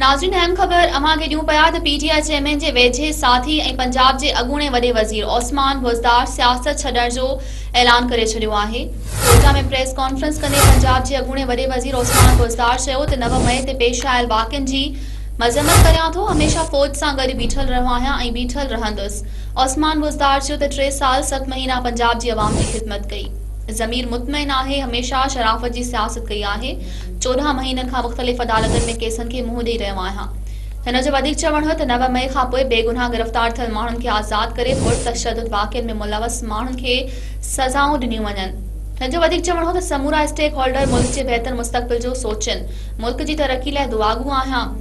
ناظرين اهم خبر اوهان کي ڏيون پيا ته پي ٽي آء چيئرمين جي ويجهي ساٿي ۽ پنجاب جي اڳوڻي وڏي وزير عثمان بوزدار سياست ڇڏڻ جو اعلان ڪري ڇڏيو آهي ڪوئٽا ۾ پريس ڪانفرنس ڪندي پنجاب جي اڳوڻي وڏي وزير عثمان بوزدار چيو ته نو مئي تي پيش آيل واقعن جي مذمت ڪريان ٿو هميشه فوج سان گڏ بيٺل رهيو آهيان ۽ بيٺل رهندس عثمان بوزدار چيو ته ٽي سال ست مهينا پنجاب جي عوام جي خدمت ڪئي ضمير مطمئن آهي هميشه شرافت جي سياست ڪئي آهي چوڏهن مهينن کان مختلف عدالتن ۾ ڪيسن کي منهن ڏئي رهيو آهيان. هن جو وڌيڪ چوڻ هو ته نو مئي کانپوء بيگناهه گرفتار ٿيل ماڻهن کي آزاد ڪري پر تشدد واقعن ۾ ملوث ماڻهن کي سزائون ڏنيون وڃن. هن جو وڌيڪ چوڻ هو ته سمورا اسٽيڪ هولڊر ملڪ جي بهتر مستقبل جو سوچين، ملڪ جي ترقي لاء دعاگو آهيان.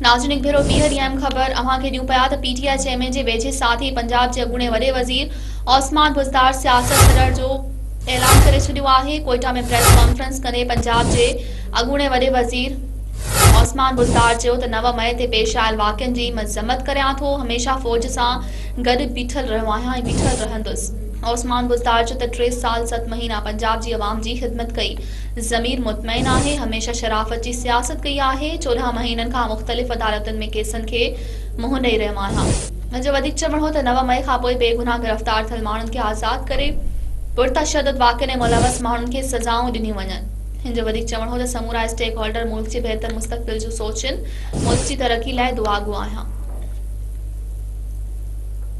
ناظرين هڪ ڀيرو ٻيهر ايم خبر اوهان کي ڏيون پيا ته پي ٽي آء چيئرمين جي ويجهي ساٿي پنجاب جي اڳوڻي وڏي وزير عثمان بزدار سياست ڇڏڻ جو اعلان ڪري ڇڏيو آهي ڪوئيٽا ۾ پريس ڪانفرنس ڪندي پنجاب جي اڳوڻي وڏي وزير عثمان بزدار چيو ته نو مئي تي پيش آيل واقعن جي مذمت ڪريان ٿو هميشه فوج سان گڏ بيٺل رهيو آهيان ۽ بيٺل رهندس عثمان بزدار چيو ته ٽي سال ست مهينا پنجاب جي عوام جي خدمت ڪئي ضمير مطمئن آهي هميشه شرافت جي سياست ڪئي آهي چوڏهن مهينن کان مختلف عدالتن ۾ ڪيسن کي منهن ڏئي رهيو آهيان. هن جو وڌيڪ چوڻ هو ته نو مئي کانپوء بيگناهه گرفتار ٿيل ماڻهن کي آزاد ڪري پرتشدد واقعن ۾ ملوث ماڻهن کي سزائون ڏنيون وڃن. هن جو وڌيڪ چوڻ هو ته سمورا اسٽيڪ هولڊر ملڪ جي بهتر مستقبل جون سوچين، ملڪ جي ترقي لاء دعاگو آهيان.